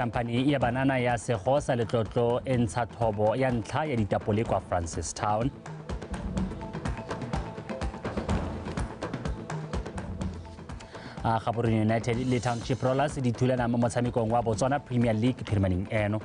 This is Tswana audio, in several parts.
khamphani ya banana ya segosa letlotlo e ntsha thobo ya ntlha ya ditapole kwa francistown a gaborone united le township rollers di thulana mo motshamekong wa botswana premier league phirimaneng eno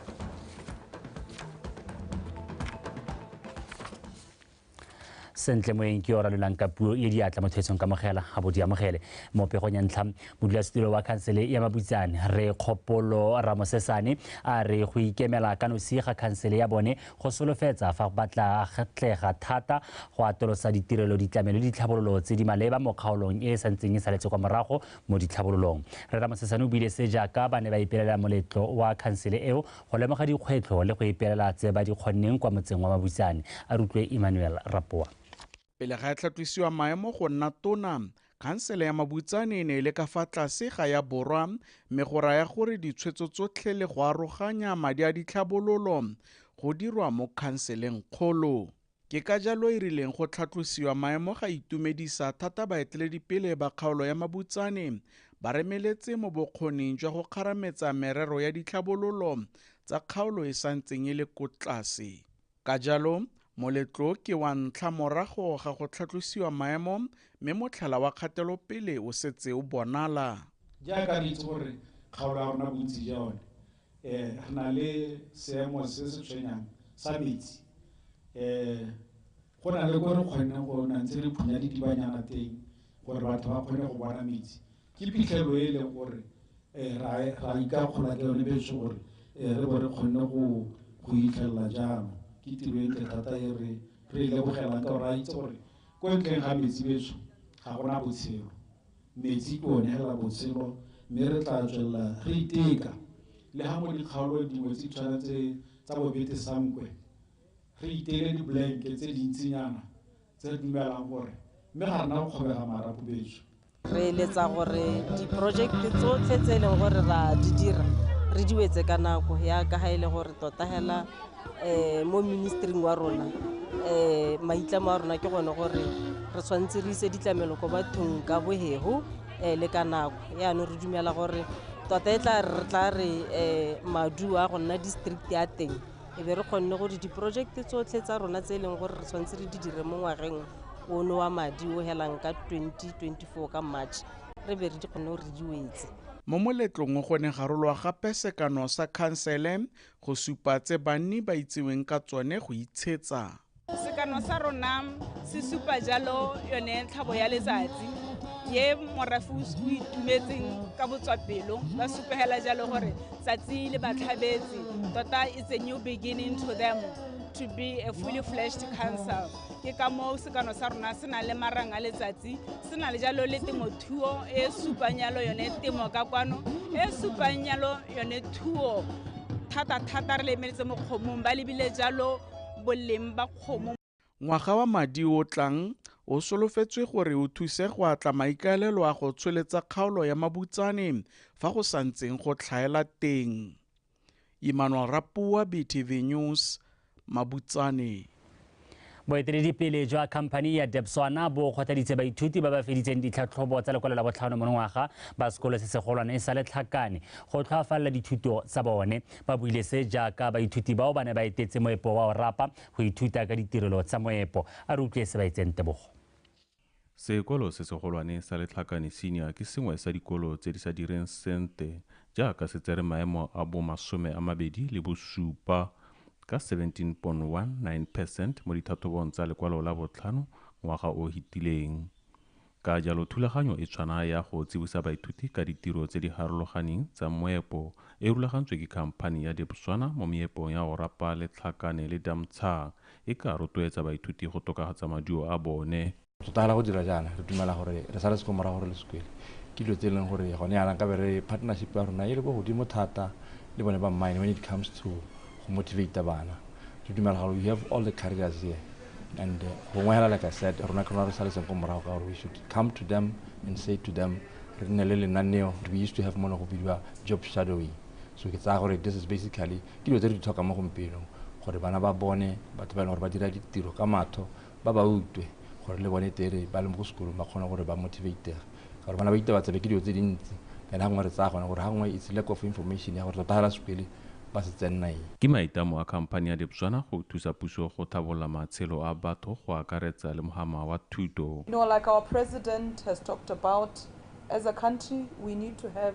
sentle moeng ke yo ralolang ka puo e diatla motho etsong kamogela ga bo di amogele mo pegong ya ntlha modulasetilo wa khansele ya mabutsane re kgopolo ramosesane a re go ikemela ka nosi ga khansele ya bone go solofetsa fa ba tla tlega thata go atolosa ditirelo ditlamelo le ditlhabololo tse di maleba mo kgaolong e e santseng e saletse kwa morago mo ditlhabololong re ramosesane o buile se jaaka ba ne ba ipelela moletlo wa khansele eo go lemoga dikgwetlho le go ipelela tse ba di kgonneng kwa motseng wa Mabutsane, a re utlwe Emmanuel Rapoa. Pele ga e tlhatlosiwa maemo go nna tona, khansele ya Mabutsane e ne e le ka fa tlase ga ya Borwa mme go raya gore ditshwetso tsotlhe le go aroganya madi a ditlhabololo go dirwa mo khanseleng kgolo. Ke ka jalo e rileng go tlhatlosiwa maemo ga itumedisa thata baeteledipele ba kgaolo ya Mabutsane ba remeletse mo bokgoning jwa go kgarametsa merero ya ditlhabololo tsa kgaolo e sa ntseng e le ko tlase. Ka jalo, moletlo o ke wa ntlha morago ga go tlhatlosiwa maemo mme motlhala wa kgatelopele o setse o bonala. Jaaka re itse gore kgaolo ya rona bontsi jwa yone E, re na le seemo se se tshwenyang sa metsi. E, go na le ko re kgonneng go na ntse re phunya ditibanyana teng gore batho ba kgone go bona metsi ke phitlhelo e e leng gore um ra ikakgola ke yone beso gore um re bo re kgonne go itlhelela jalo ke tiro e ntle thata e re re e lebogelang ka gore a itse gore ko ntleng ga metsi beso ga gona botshelo metsi ke one hela botshelo mme re tla tswelela re iteka le ga mo dikgaolo dingwe tse tshwana tse tsa bobete sankwe re itele diblanke tse dintsinyana tse re dumelang gore mme ga rena go kgobega marapo betso re eletsa gore diporojekte tsotlhe tse e leng gore ra di dira re diwetse ka nako ya ka ga e le gore tota hela um mo ministering wa rona um maitlamo a rona ke gone gore re tshwanetse re ise ditlamelo ko bathong ka bohego um le ka nako yaanong re dumela gore tota e tla re tla re um maduo a go nna district ya teng e be re kgonne gore diporojekte tsotlhe tsa rona tse e leng gore re tshwanetse re di dire mo ngwageng ono wa madi o helang ka 2024 ka march re be re di kgonne gore re di wetse mo moletlong go ne ga rolwa gape sekano sa khansele Go supa tse banni ba itseweng ka tsone go itshetsa. Sekano sa rona se supa jalo yone tlhabo ya letsatsi ye morafe o itumetseng ka botswapelo ba supegela jalo gore tsatsi le batlhabetse tota it's a new beginning to them to be a fully flashed council. ke ka moo sekano sa rona se nang le marang a letsatsi se na le jalo le temothuo e supang yalo yone temo ka kwano e supang yalo yone thuo thata-thata re lemeletse mo kgomong ba lebile jalo boleng ba kgomo ngwaga wa madi o tlang o solofetswe gore o thuse go atla maikaelelo a go tsholetsa kgaolo ya mabutsane fa go santseng go tlhaela teng Emmanuel Rapoa, BTV News, Mabutsane. Boeteledipele jwa khamphani ya Debswana bo kgothaditse baithuti ba ba feditseng ditlhatlhobo tsa lekwalo la botlhano monongwaga ba sekolo se segolwane sa letlhakane go tlhoafalela dithuto tsa bone. Ba buile se jaaka baithuti bao ba ne ba etetse moepo wa Orapa go ithuta ka ditirelo tsa moepo. A re utlwe se ba etseng tebogo. Sekolo se segolwane sa Letlhakane Senior ke sengwe sa dikolo tse di sa direng sente jaaka se tsere maemo a bo masome a mabedi le bosupa ka 17.19 percent mo dithathobong tsa lekwalo la botlhano ngwaga o hitileng. Ka jalo thulaganyo e tshwana ya go tsibosa baithuti ka ditiro tse di harologaning tsa moepo e rulagantswe ke khamphani ya Debswana mo meepong ya go rapa Letlhakane le Damtshaa e ka rotloetsa baithuti go tokafatsa maduo a bone. Re tla gana go dira jaana, re dumela gore re saletse ko morago re le sekwele ke dilo tse e leng gore gone yana nkabe re partnership ya rona e le ko godimo thata le bone ba mine when it comes to go motivate bana. Re dumela gore we have all the carriers here and uh, gongwe hela like I said rona ke rona re saletseng ko morago ka gore we should come to them and say to them re nne le lenaneo we used to have mo ne go bidiwa job shadowing so ke tsaya gore this is basically ke dilo tse re di tlhokang mo gompienong gore bana ba bone batho ba e leng gore ba dira ditiro ka matho ba ba utwe gore le bone tere ba le mo go sekolong ba kgone gore ba motivatega ka gore bana ba itabatsabe ke dilo tse dintsi and gangwe re tsaya gone gore gangwe it's lack of information ya gore tota fela sekwele ba se tsenna eng Ke maitlamo a khamphani ya Dipswana go thusa puso go tlhabolola matshelo a batho go akaretsa le mohama wa thuto. You know, like our president has talked about, as a country, we need to have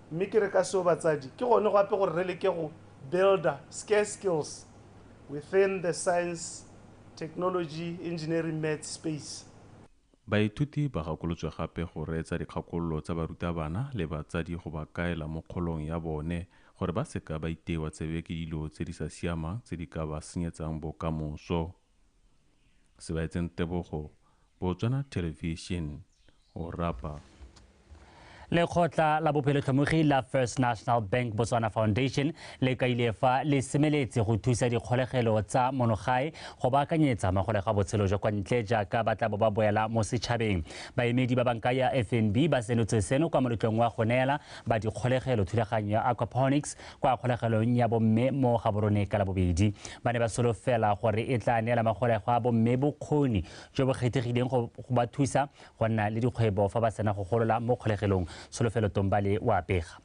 Mme ke re ka seo batsadi, ke gone gape gore re leke go builda scarce skills within the science, technology, engineering, maths space. Baithuti ba gakolotswe gape go reetsa dikgakololo tsa barutabana le batsadi go ba kaela mo kgolong ya bone gore ba seka ba iteiwa tsebe ke dilo tse di sa siamang tse di ka ba senyetsang bokamoso. sebaetseng tebogo botswana television o rapa lekgotla la bophelotlhomogi la first national bank botswana foundation le kaile fa le semeletse go thusa dikgolegelo tsa monogae go baakanyetsa magolega botshelo jwa kwa ntle jaaka ba tla bo ba boela mo setšhabeng baemedi ba banka ya fnb ba senotse seno kwa moletlong wa go neela ba dikgolegelo thulaganyo ya aquaponics kwa kgolegelong ya bomme mo Gaborone ka Labobedi. Ba ne ba solofela gore e tla neela magolegwa a bomme bokgoni jo bo kgethegileng go ba thusa go nna le dikgwebo fa ba sena go golola mo kgolegelong. Solofelo Tombale o a pega.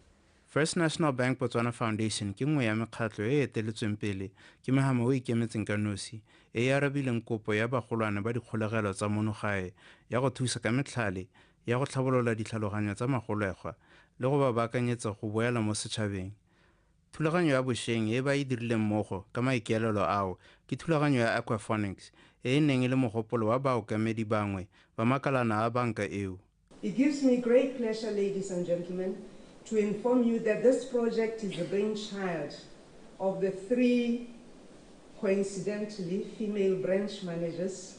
First National Bank Botswana Foundation ke nngwe ya mekgatlho e e eteletsweng pele ke Mahama o ikemetseng ka nosi e e arabileng kopo ya bagolwane ba dikgolegelo tsa mono gae ya go thusa ka metlhale ya go tlhabolola ditlhaloganyo tsa magolegwa le go ba baakanyetsa go boela mo setšhabeng. Thulaganyo ya bosheng e ba e dirileng mmogo ka maikaelelo ao ke thulaganyo ya aquaphonics e e neng e le mogopolo wa baokamedi bangwe ba makalana a banka eo. It gives me great pleasure, ladies and gentlemen, to inform you that this project is the brainchild of the three coincidentally female branch managers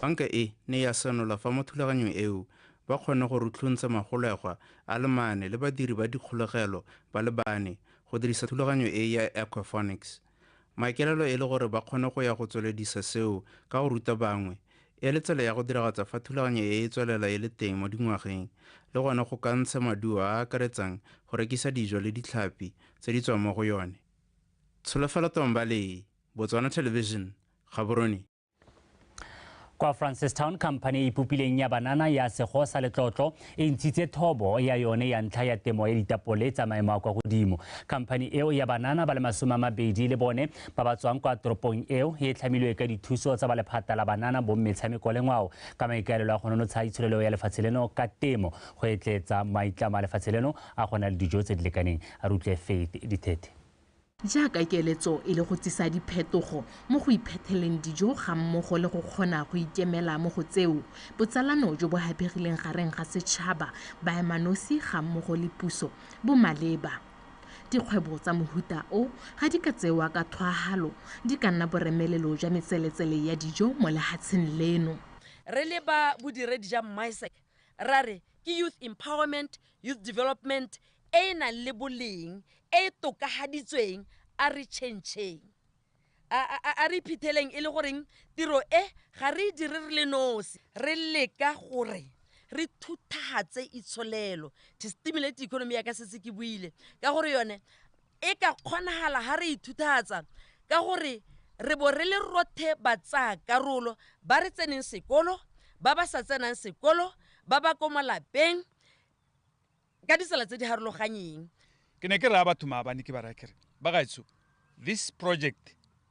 Banka e ne ya senola fa mo thulaganyong eo ba kgonne go rutlhuntsha magolegwa a le mane le badiri ba dikgolegelo ba le bane go dirisa thulaganyo e ya aquaphonics, maikaelelo e le gore ba kgone go ya go tsweledisa seo ka go ruta bangwe e le tsela ya go diragatsa fa thulaganyo e e tswelela e le teng mo dingwageng le gone go ka ntsha maduo a a akaretsang go rekisa dijo le ditlhapi tse di tswang mo go yone. Tsholofelo Tomba le Botswana Television, Gaborone. Kwa Francistown, khamphane e e ipopileng ya banana ya Sego sa Letlotlo e ntshitse thobo ya yone ya ntlha ya temo ya ditapole tsa maemo a kwa godimo. Khamphane eo ya banana ba le masome a mabedi le bone ba ba tswang kwa toropong eo e tlhamilwe ka dithuso tsa ba lephata la banana bo mmetshameko le ngwao ka maikaelelo a go nonotsha itsholelo ya lefatshe leno ka temo go etletsa maitlamo a lefatshe leno a go na le dijo tse di lekaneng. A re utlwe Faith Dithethe. Jaaka keletso e le go tsisa diphetogo mo go iphetheleng dijo gammogo le go kgona go ikemela mo go tseo, botsalano jo bo hapegileng gareng ga setšhaba, baemanosi gammogo le puso bo maleba. Dikgwebo tsa mohuta o ga di ka tsewa ka thwaahalo di ka nna boremelelo jwa metseletsele ya dijo mo lehatsheng leno. Re leba bodiredi ja Mmaeseke Ra re ke Youth Empowerment, Youth Development e e nang le boleng, e e tokagaditsweng, a re tšhentšheng. A, a, a, a re iphetheleng e le goreng tiro e ga re e dire re le nosi. Re leka gore re thuthagatse itsholelo, to stimulate economy, yaka setse ke buile ka gore yone e ka kgonagala ha re ithuthatsa ka gore re bo re le rothe batsaya karolo ba re tseneng sekolo ba ba sa tsenang sekolo ba ba ko malapeng ka ditsela tse di harologanyeng ke ne ke raya batho maabane ke ba raya kere ba gaetsho this project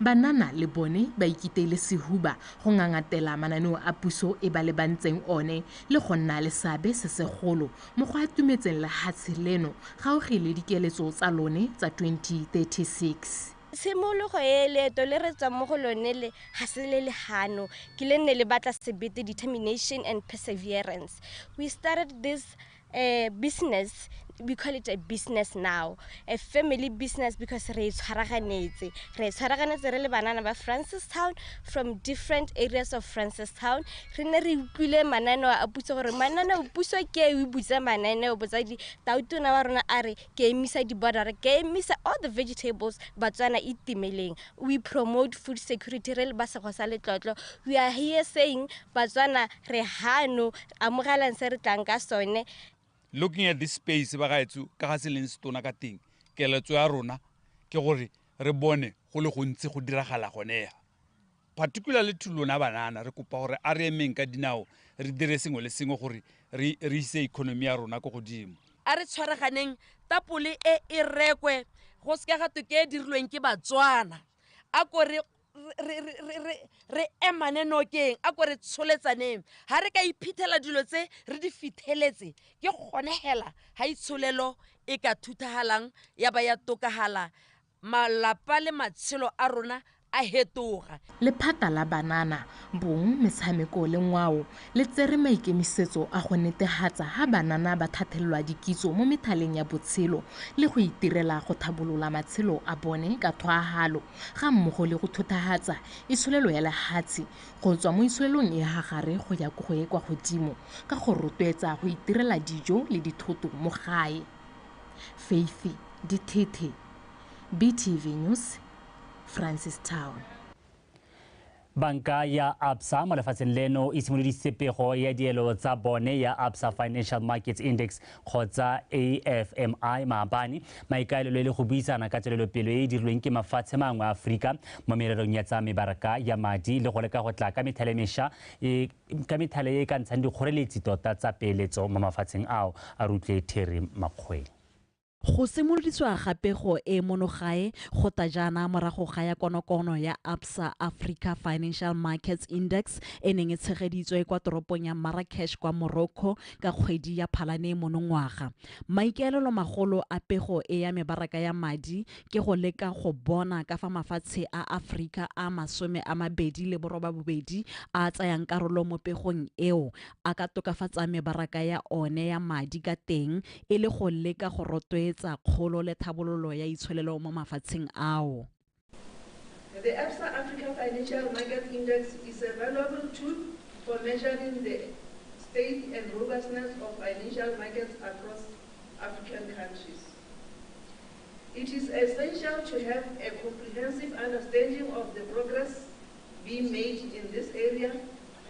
Banana le bone ba ikiteile sehuba go ngangatela mananeo a puso e ba lebantseng one le go nna le seabe se segolo mo go atumetseng lehatshe leno gaugi le dikeletso tsa lone tsa 2036. Tshimologo e leeto le re tswang mo go lone le, ga se le le hano, ke le nne le batla sebete, determination and perseverance. We started this A business, we call it a business now. A family business because re tshwaraganetse. Re tshwaraganetse re le banana ba Francistown from different areas of Francistown. Re ne re utlwile mananeo a puso gore mananeo puso ke e butsa mananeo botsadi tautona wa rona a re ke emisa di-border ke emisa all the vegetables batswana itimeleng. We promote food security re le ba sego sa letlotlo. We are here saying batswana re hano amogelang se re tlang ka sone looking at this space ba gaetso ka ga se leng setona ka teng keletso ya rona ke gore re bone go le gontsi go diragala gonega particularly to lona banana re kopa gore a re emeng ka dinao re dire sengwe le sengwe gore re ise economy ya rona ko godimo a re tshwaraganeng tapole e e rekwe go seka ga toke e dirilweng ke batswana a kore re emane nokeng a ko re tsholetsaneng ga re ka iphitlhela dilo tse re di fitlheletse ke gone hela ga itsholelo e ka thuthagalang ya ba ya tokagala malapa le matshelo a rona a hetoga lephata la banana bong metshameko le ngwao le tsere maikemisetso a go netegatsa ga banana ba thathelelwa dikitso mo methaleng ya botshelo le go itirela go thabolola matshelo a bone ka thwagalo ga mmogo le go thothahatsa itsholelo ya lehatshe go tswa mo itsholelong e ha gare go ya ko go e kwa godimo ka go rotwetsa go itirela dijo le dithoto mo gae. Faith Dithethe, BTV News, Francistown. Banka ya Absa mo lefatsheng leno e simolodisitse pego ya dielo tsa bone ya Absa Financial Markets Index kgotsa AFMI maabane. Maikaelelo e le go buisana ka tswelelopele e e dirilweng ke mafatshe mangwe a Aforika mo mererong ya tsa mebaraka ya madi le go leka go tla ka methale mesha e ka methale e e ka ntshang dikgoreletsi tota tsa peeletso mo mafatsheng ao, a rutlwe Terry Makgweng. Go simoloditswa ga pego e mono gae go ta jaana morago ga ya konokono ya Absa Africa Financial Markets Index e neng e tshegeditswe kwa toropong ya Marrakesh kwa Morocco ka kgwedi ya Phalane monongwaga. Maikaelelomagolo a pego e ya mebaraka ya madi ke go leka go bona ka fa mafatshe a Aforika a masome a mabedi le borobabobedi a a tsayang karolo mo pegong eo a ka tokafatsang mebaraka ya one ya madi ka teng e le go leka go rotloetsa kgolo le tlhabololo ya itsholelo mo mafatsheng ao. The Absa Africa Financial Market Index is a valuable tool for measuring the state and robustness of financial markets across African countries. It is essential to have a comprehensive understanding of the progress being made in this area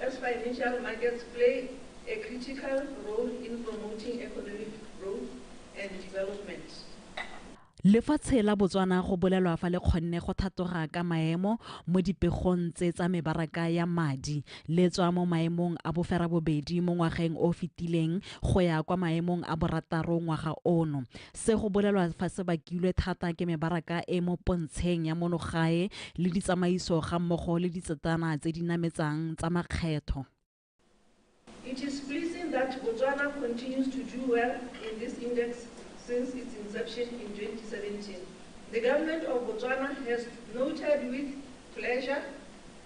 as financial markets play a critical role in promoting economic growth and development. Lefatshe la Botswana go bolelwa fa le kgonne go thatoga ka maemo mo dipegong tse tsa mebaraka ya madi, le tswa mo maemong a boferabobedi mo ngwageng o o fetileng go ya kwa maemong a borataro ngwaga ono. Se go bolelwa fa se bakilwe thata ke mebaraka e mo pontsheng ya mono gae le ditsamaiso ga mmogo le ditsetana tse di nametsang tsa makgetho. It is pleasing that Botswana continues to do well in this index since its inception in 2017. The Government of Botswana has noted with pleasure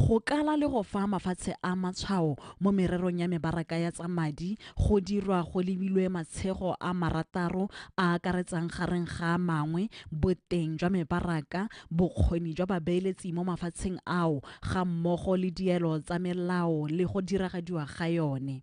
Go kala le go fa mafatshe a matshwao mo mererong ya mebaraka ya tsa madi go dirwa go lebilwe matshego a marataro a a akaretsang gareng ga a mangwe boteng jwa mebaraka, bokgoni jwa babeeletsi mo mafatsheng ao gammogo le dielo tsa melao le go diragadiwa ga yone.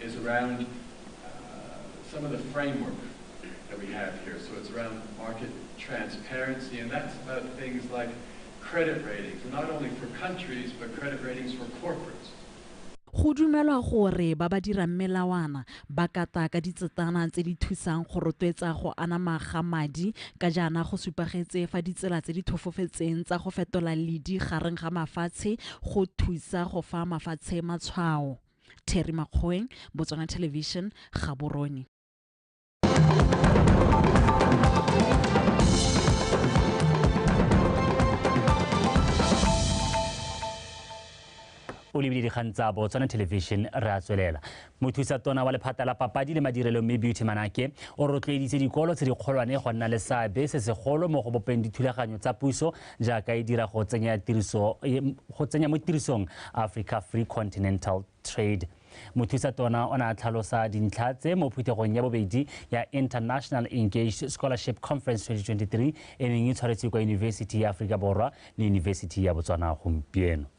is around uh, some of the framework that we have here. So it's around market transparency, and that's about things like credit ratings, not only for countries, but credit ratings for corporates. go dumelwa gore ba ba dirang melawana ba kata ka ditsetana tse di thusang go rotloetsa go anama ga madi ka jaana go supagetse fa ditsela tse di thofofetseng tsa go fetola ledi gareng ga mafatshe go thusa go fa mafatshe matshwao Terry Makgoeng, Botswana Television, Gaborone. o lebile dikgang tsa botswana television re a tswelela mothusa tona wa lephata la papadi le madirelo mme beauty manake o rotloeditse dikolo tse dikgolwane go nna le seabe se segolo mo go bopeng dithulaganyo tsa puso jaaka e dira go tsenya tiriso go tsenya mo tirisong Africa Free Continental Trade mothusa tona o ne a tlhalosa dintlha tse mo phuthegong ya bobedi ya international engaged scholarship conference 2023 e neng e tshwaretswe kwa yunibesithi ya aforika borwa le yunibesithi ya botswana gompieno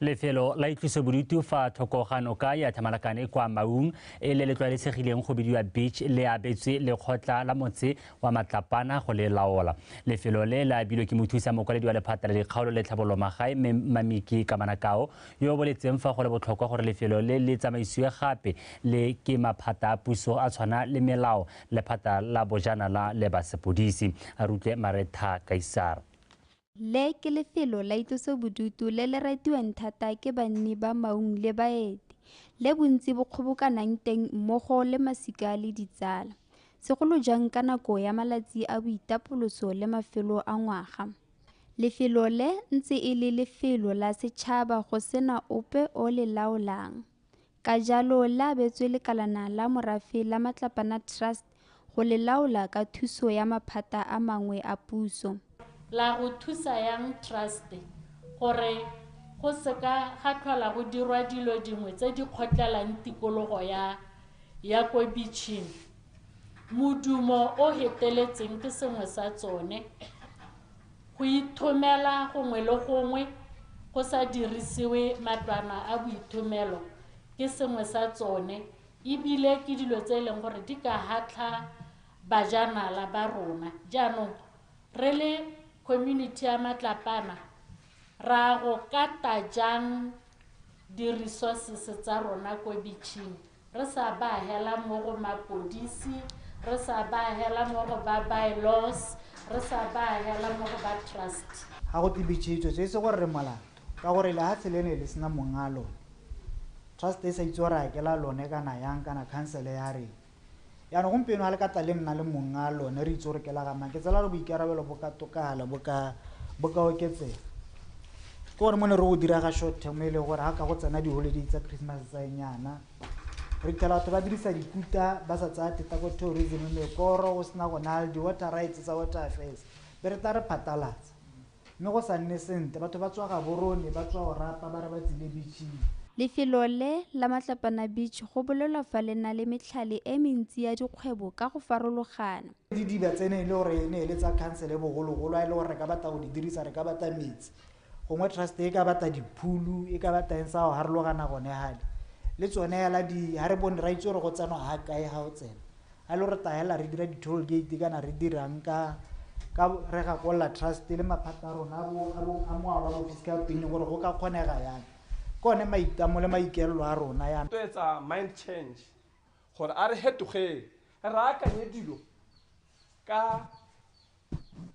Lefelo la itlosobodutu fa thoko ga noka ya Thamalakane kwa Maung e le le tlwaelesegileng go bidiwa Beach le abetswe lekgotla la motse wa Matlapana go le laola. Lefelo le le abilwe ke mothusa mokwaledi wa lephata la dikgaolo le tlhabololo magae Mme Mamiki Kamanakao yo o boletseng fa go le botlhokwa gore lefelo le le tsamaisiwe gape le ke maphata a puso a tshwana le melao, lephata la bojanala le ba sepodisi. Re utlwe Maretha Kaisara. Le ke lefelo la itlosobodutu le le ratiwang thata ke banni ba maung le baeti, le bontsi bo kgobokanang teng mmogo le masika le ditsala, segolo jang ka nako ya malatsi a boitapoloso le mafelo a ngwaga. Lefelo le ntse e le lefelo la setšhaba go sena ope o le laolang. Ka jalo le abetswe lekalana la morafe la Matlapana Trust go le laola ka thuso ya maphata a mangwe a puso. La go thusa yang Trust gore go se ka ga tlhola go dirwa dilo dingwe tse di kgotlelang tikologo ya ya ko bitšhing? Modumo o heteletseng ke sengwe sa tsone. Go ithomela gongwe le gongwe go sa dirisiwe matlwana a boithomelo ke sengwe sa tsone ebile ke dilo tse e leng gore di ka hatlha bajanala ba rona. Jaanong re le community ya Matlapana ra go kata jang di-resources tsa rona ko beach-ing? Re sa baagela mo go mapodisi, re sa baagela mo go ba by-laws, re sa baagela mo go ba trust. Ga go tibitšhitšwe tso e se gore re molato ka gore lehatshe le ne le sena mong'a lone, trust e sa itse gore a ke la lone kana yang kana khansele ya reng. Jaanong gompieno ga le ka tla le nna le monga lone, re itse gore ke la ga mang, ke tsela gore boikarabelo bo ka tokala, bo ka, bo ka oketsega. Ke gore mo ne re go dira ga short term e leng gore ga ka go tsena di-holiday tsa Christmas tsa enyana, re fitlhela batho ba dirisa dikuta ba sa tsaya theta ko tourism, mekoro go sena go nale di-water rights tsa water affairs, be re tla re phatalatsa. Mme go sa nne sente, batho ba tswa Gaborone, ba tswa Orapa, ba re ba tsile beach-ing. Lefelo le la Matlapana Beach go bolelwa fa le na le metlhale e mentsi ya dikgwebo ka go farologana. Didiba tse ne e le gore e ne e le tsa khansele bogologolo, a e le gore re ka batla go di dirisa, re ka batla metsi, gongwe trust e ka batla diphulu, e ka batla eng, sa go harologana gone hale. Le tsone hela di, ha re bone, ra itse gore go tsenwa ha kae ha o tsena. a lo re tayela re dira di-toll gate kana re dirang ka ka re gakolola trust le maphata a rona a moalwa bo fiscal pine gore go ka kgonega yang ke one maitamo le maikelelo a rona yana to etsa mind change gore a re hetogeng re akanye dilo ka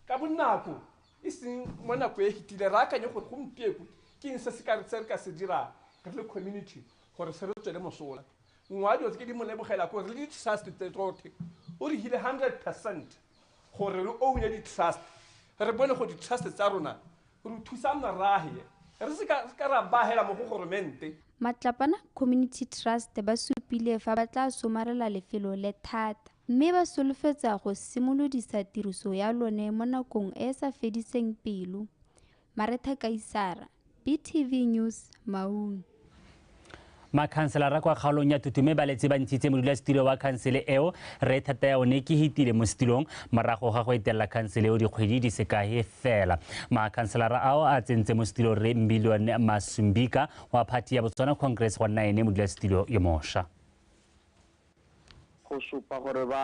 ka bonako e seng mo nako e fetile re akanye gore gompieko ke eng se se ka re ka se dirang re le community gore se re tswele mosola nngwe wa dilo tse ke di mo lebogela ko re di-trust tse tsotlhe o re hile hundred percent gore re oune di-trust re bone go di-trust tsa rona re thusa merage re se ka ra bagela mo go goromente Matlapana Community Trust ba supile fa ba tla somarela lefelo le thata mme ba solofetsa go simolodisa tiriso ya lone mo nakong e e sa fediseng pelo. Maretha Kaisara, BTV News, Maun. Makhanselara kwa kgaolong ya Tutume ba letse ba ntshitse modulasetilo wa khansele eo Rre Thatayaone Kehitile mo setilong morago ga go etelela khansele eo dikgwedi di sekae fela. Makhanselara ao a tsentse mo setilo Rre Million Masumbika wa phathi ya Botswana Congress go nna ene modulasetilo yo mosha. Go supa gore ba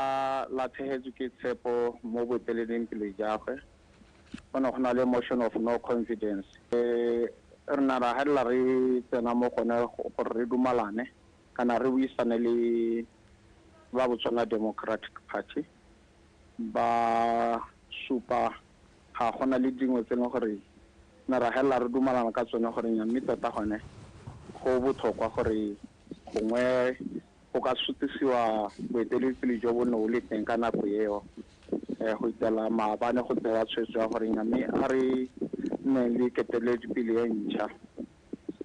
latlhegetswe ke tshepo mo boeteleding pele jagwe, go ne go na le motion of no confidence. Re ne ra helela re tsena mo gone gore re dumalane kana re buisane le ba Botswana Democratic Party, ba supa ga gona le dingwe tse e leng gore ne ra helela re dumalana ka tsone gore nya mme tota gone go botlhokwa gore gongwe Go ka sutisiwa boeteledipele jo bo ne o le teng ka nako eo um go itela maabane go tsewa tshwetso ya gore nya mme a re nne le keteledipele e ntšha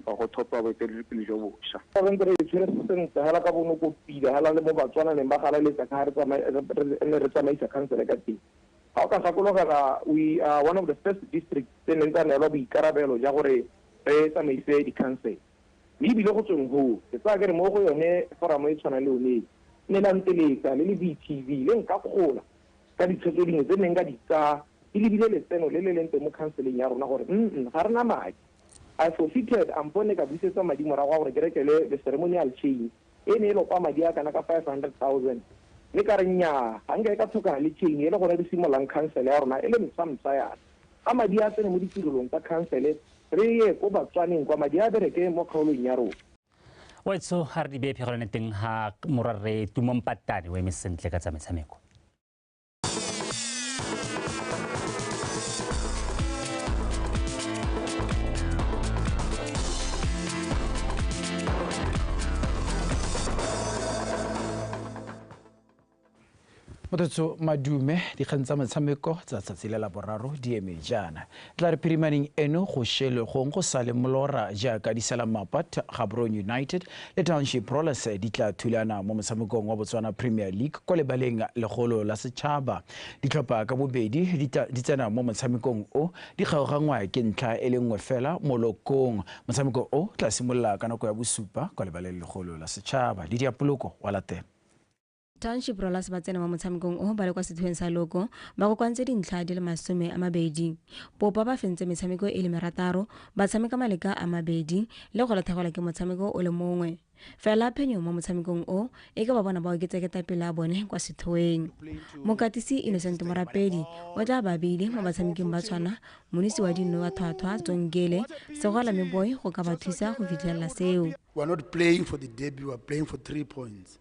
or go thopiwa boeteledipele jo bosha. Fa re ntse re e tshwere sentle hela ka bonoko pila hela le mo Batswana neng ba galaletsa ka re ne re tsamaisa khansele ka teng. Ga o ka gakologela we are one of the first districts tse neng tsa neelwa boikarabelo ja gore re tsamaise dikhansele. Mme ebile go tsweng hoo, ke tsaya kere mo go yone foramo e tshwana le yone e, ne la nteletsa le le BTV le nkakgola ka ditshwetso tse dingwe tse nne nka di tsaya di lebile letseno le le leng teng mo khanseleng ya rona gore mm ga re na madi. I forfeited a mpo ne ka busetswa madi morago a gore ke rekele le ceremonial chain. e ne e lopa madi a kana ka 500,000, mme ka re nnyaa, ga nka e ka tlhokana le chain e le gone re simololang khansele ya rona e le ntshwamntsha yana. A madi a tsene mo ditirelong tsa khansele, re ye ko Batswaneng kwa madi a bereke mo kgaolong ya rona. Wetsho, a re di beye phegelwane teng ga Morwa Rre Tumo Mpatane o eme sentle ka tsa metshameko. Motho madume dikgang tsa metshameko tsa tsatsi le la boraro di eme jaana Tlare phirimaneng eno go šele gong go sa le molora jaaka Disela Mapat, Gaborone United le Township Rollers di tla thulana mo motshamekong wa Botswana Premier League kwa lebaleng legolo la setšhaba. Ditlhopha ka bobedi di tla di tsena mo motshamekong o di kgaogangwa ke ntlha e le nngwe fela mo lokong. Motshameko o tla simolola ka nako ya bosupa kwa lebaleng legolo la setšhaba. Lydia Poloko wa latela. township rollers ba tsena mo motshamekong o ba le kwa sethweng sa loko ba kokoantse dintlha di le masome a mabedi popa ba fentse metshameko e le merataro ba tshameka maleka a mabedi le go lathegwela ke motshameko o le mongwe fela phenyo mo motshamekong o e ka ba bona ba oketsa ketapele a bone kwa sethweng mokatisi innocent morapedi o tla ba beile mo batshameking ba tshwana monisi wa dinno wa thwathwa tsongele segwala me boy go ka ba thusa go fitlhelela seo We are not playing for the derby, we are playing for three points.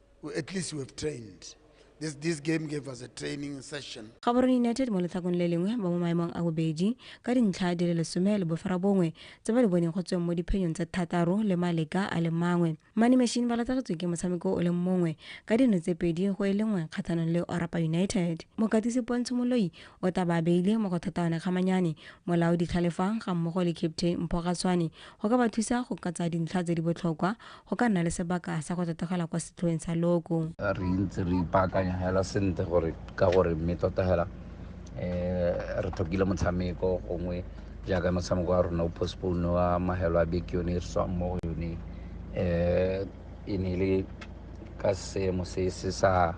at least we have trained This, this game gave us a training session. Gaborone United mo letlhakong le lengwe ba mo maemong a bobedi ka dintlha di le lesome le bofara bongwe tse ba di boneng go tsweng mo diphenyong tse thataro le maleka a le mangwe. Money Machine ba latlhagetswe ke motshameko o leng mongwe ka dino tse pedi go e lengwe kgatlhanong le Orapa United. Mokatisi Pontsho Moloi o tla ba beile mo go thataone kgamanyane molao ditlhalefang ga mmogo le captain Mpho Gatswane go ka ba thusa go katsa dintlha tse di botlhokwa go ka nna le sebaka sa go totogela kwa setlhoeng sa loko re ntse re ipaakanya hela sentle gore ka gore mme tota hela eh re tlhokile motshameko gongwe jaaka motshameko wa rona o postpone wa mahelo a beke yone e re tswang mo go yone eh e ne e le ka seemo se se sa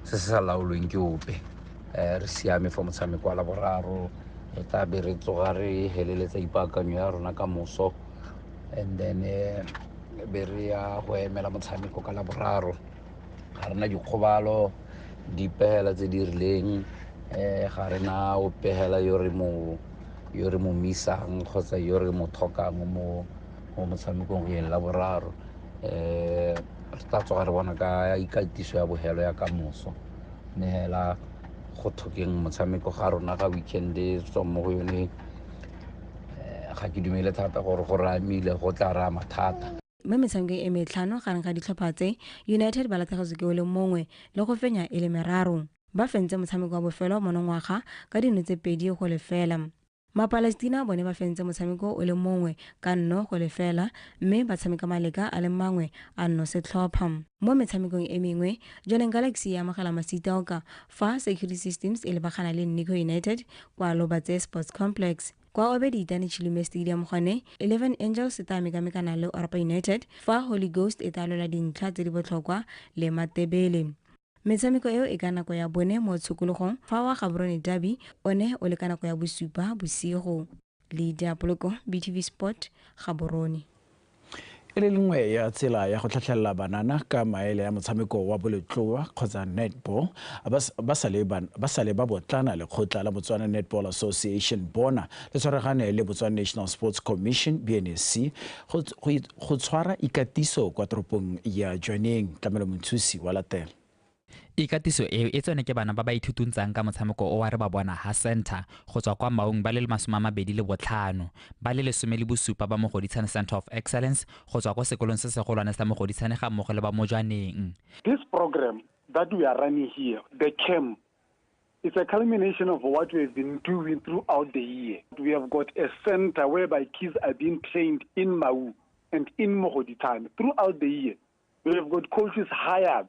se se sa laolweng ke ope um re siame fa motshameko wa laboraro re tla be re tsoga re heleletsa ipaakanyo ya rona ka moso and then eh, be re ya go emela motshameko ka laboraro ga rena dikgobalo dipegela tse di rileng um ga rena o pegela yo re mo yo re mo misang kgotsa yo re mo thokang mo mo motshamekong go eng la boraro um eh, re tla tsoga re bona ka ikatiso ya bogelo ya ka moso mme fela go thokeng motshameko ga rona ga weekend tswa mo go yone ga ke dumele thata gore go ramile go tla raya mathata mo metshamekong e metlhano gareng ga ditlhopha tse united ba latlhegetswe ke o le mongwe le go fenya e le meraro ba fentse motshameko wa bofelo monongwaga ka dino tse pedi go lefela mapalestina bone ba fentse motshameko o le mongwe ka nno go lefela mme ba tshameka maleka a le mangwe a nno setlhopha mo metshamekong e mengwe joneng galaxy e amogela masitaoka Fa Security Systems e lebagana le Nico United kwa Lobatse Sports Complex, kwa Obediitane Chilume Stadium gone, Eleven Angels e tla mekamekana le Orapa United fa Holy Ghost e tla lwela dintlha tse di botlhokwa le Matebele. Metshameko eo e ka nako ya bone mo tshokologong fa wa Gaborone Derby one o le ka nako ya bosupa bosigo. le diapoloko btv sport gaborone e le lengwe ya tsela ya go tlhatlhelela banana ka maele ya motshameko wa boletloa kgotsa netball ba sale ba botlana lekgotla la botswana netball association bona le tshwaragane le botswana national sports commission bnsc go tshwara ikatiso kwa toropong ya jwaneng tlamelo monthusi wa latela Ikatiso eo e tsone ke bana ba ba ithutuntsang ka motshameko o wa Re Ba Bona Ha Centre go tswa kwa Maung ba le le masome a mabedi le botlhano, ba le lesome le bosupa ba Mogoditshane Centre of Excellence go tswa ko sekolong se segolwane sa Mogoditshane ga mmogo le ba Mojwaneng. This program that we are running here, the camp, it's a culmination of what we have been doing throughout the year. We have got a centre whereby kids are being trained in Maung and in Mogoditshane throughout the year. We have got coaches hired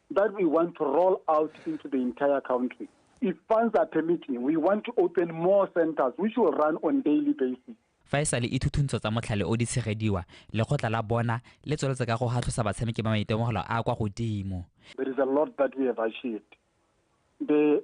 that we want to roll out into the entire country. If funds are permitting, we want to open more centers which will run on daily basis. fa e sale ithuthuntsho tsa motlhale o di tshegediwa lekgotla la bona le tsweletse ka go gatlhosa batshameki ba maitemogelo a kwa godimo There is a lot that we have achieved. The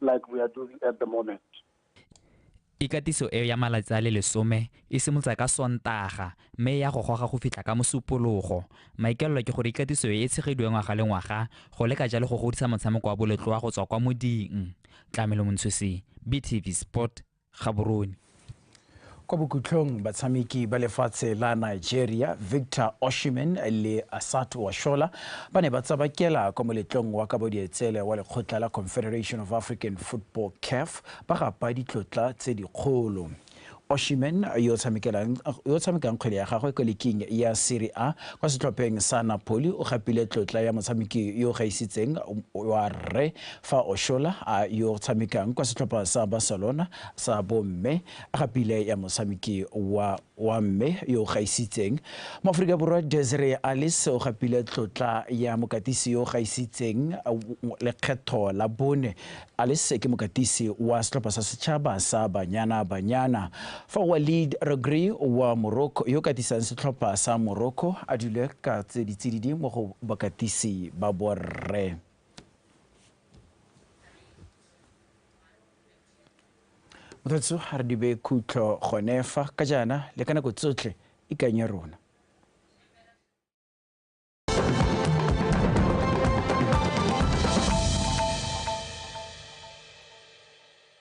like we are doing at the moment. Ikatiso eo ya malatsi a le lesome e simolotsa ka Sontaga mme e ya go goga go fitlha ka Mosupologo. Maikaelelo ke gore ikatiso e e tshegediwe ngwaga le ngwaga go leka jalo go godisa motshameko wa boletloa go tswa kwa moding. Tlamelo Montshosi, BTV Sport, Gaborone. Kwa bokhutlhong batshameki ba lefatshe la Nigeria Victor Oshimen le Asatu Washola ba ne ba tsabakela kwa moletlong wa kabodietsele wa lekgotla la Confederation of African Football CAF ba gapa ditlotla tse dikgolo. Oshimen yo o tshamekang kgwele ya gagwe kwa liking ya Serie A kwa setlhopheng sa Napoli o gapile tlotla ya motshameki yo o gaisitseng wa rre Fa Oshola a yo tshamekang kwa setlhopha sa Barcelona sa bomme, a gapile ya motshameki wa wa mme yo o gaisitseng. Moaforika Borwa Desiree Alice o gapile tlotla ya mokatisi yo o gaisitseng lekgetho la bone. Alice ke mokatisi wa setlhopha sa setšhaba sa Banyana Banyana. Fa Walid Regragui wa Morocco yo o katisang setlhopha sa Morocco a dule ka ditsididi mo go bakatisi ba borre. mothatso ga re dibe khutlo gone fa ka jaana le ka nako tsotlhe ikanye rona